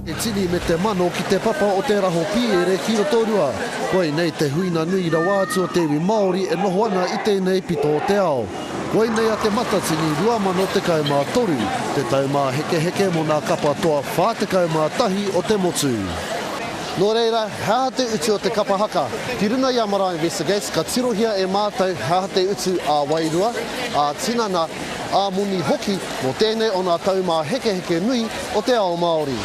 Te tini me te mano ki te papa o te raho pīere ki Rotorua. Koinei te huinga nui rawa atu o te iwi Māori e noho ana i tēnei pito o te ao. Koinei a Te Matatini 2013, te tau māhekeheke mō nā kapa toa 41 o te motu. Nō reira, he aha te utu o te kapa haka? Ki runga i a Marae Investigates ka tirohia e mātou he aha te utu ā-wairua, ā-tinana, ā-moni hoki mō tēnei o ngā taumāhekeheke nui o te ao Māori.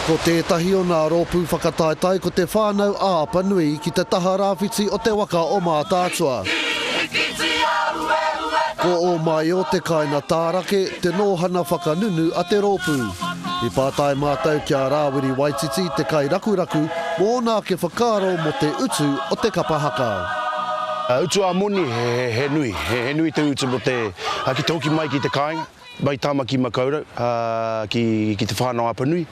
Ko tētahi o ngā rōpū whakataetae ko Te Whānau a Apanui ki te taha rāwhiti o te waka o Mātaatua. Ko Ōmaio te kāinga tārake, te nōhana whakanunu a te rōpū. I pātai mātou ki a Rāwiri Waititi, te kairakuraku, mō ōna ake whakaaro mō te utu o te kapa haka. Utu ā-moni he nui. He nui te utu mō te te hoki mai ki te kāinga, mai Tāmaki Makaurau ki Te Whānau-a-Apanui,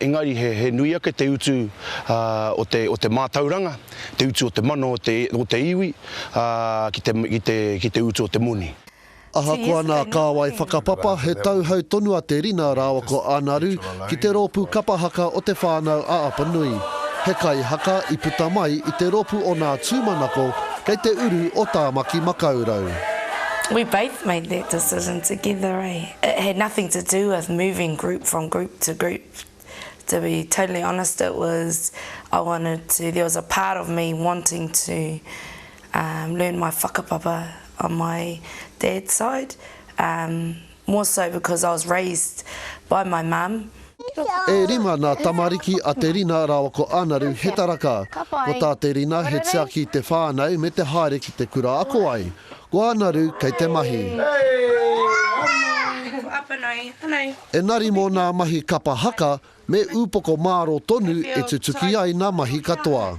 engari he nui ake te utu o te mātauranga, te utu o te mana o te iwi ki te utu o te moni. Ahakoa nā Kāwai whakapapa he tauhou tonu a Te Rina rāua ko Ānaru, ki te rōpū kapa haka o Te Whānau a Apanui, he kaihaka i puta mai i te rōpū o Nā Tūmanako kei te uru o Tāmaki Makaurau. We both made that decision together eh, it had nothing to do with moving group from group to group, to be totally honest it was I wanted to, there was a part of me wanting to learn my whakapapa on my dad's side. More so because I was raised by my mum. E rima nā tamariki a Te Rina rāua ko Ānaru he taraka. Ko tā Te Rina he tiaki i te whānau me te haere ki te kura ako ai. Ko Ānaru kei te mahi. Engari mō nā mahi kapa haka me ūpoko mārō tonu e tutuki ai nā mahi katoa.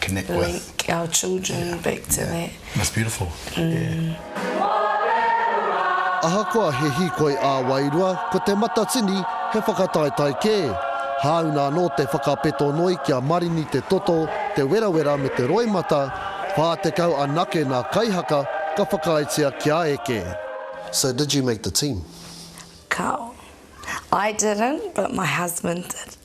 connect with. Link our children yeah. back to yeah. that. That's beautiful. Mm. Yeah. Ahakoa he hikoi ā-wairua, ko te matatini he whakataetae kē. Hāuna anō te whakapeto noi kia marini te toto, te werawera me te roimata, 40 anake nā kaihaka ka whakaaetia kia eke. So did you make the team? Kao. I didn't, but my husband did.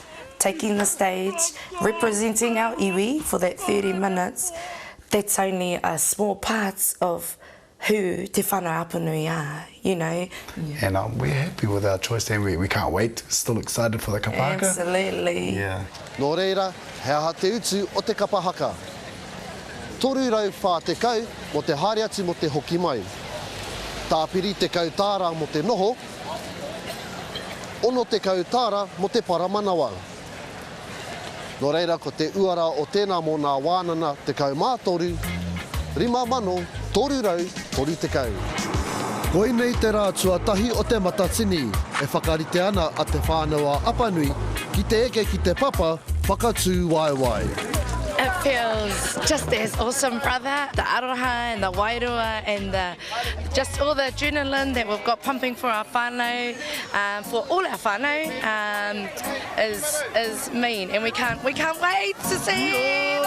taking the stage, representing our iwi for that 30 minutes, that's only a small part of who Te Whana Apanui are, you know. Yeah. And um, we're happy with our choice and we, we can't wait, still excited for the kapa haka. Absolutely. Yeah. Nō reira, he aha te utu o te kapa haka? 340 mō te haere atu mō te hoki mai. Tāpiri 10 tāra mō te noho, 60 tāra mō te paramanawa. Nō reira ko te uara o tēnā mō nā wānana 13, 5330. Koinei te rā tuatahi o Te Matatini e whakarite ana a Te Whānau-ā-Apanui ki te eke ki te papa whakatūwaewae. It feels just as awesome brother, the aroha and the wairua and the Just all the adrenaline that we've got pumping for our whānau, um, for all our whānau, um, is, is mean. And we can't, we can't wait to see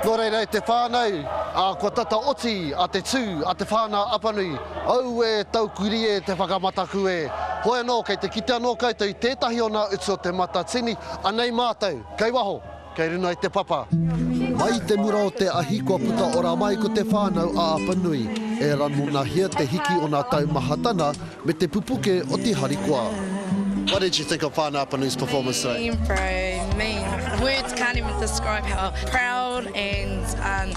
Nō reira e te whānau, a kua tata oti a te tū, a te whānau Apanui, au e tau kuri e te whakamataku e. Hoi anō, kei te kite anō koutou i tētahi o nā utu o te Matatini, anei mātou, kei waho, Kei runa i te papa. Mai i te mura o te ahi kua puta ora mai ko te whānau a Apanui, e ranonahia te hiki o nā taumahatana me te pupuke o te harikoa. What did you think of Whānau Apanui's performance today? Mean bro, mean. Words can't even describe how proud and um,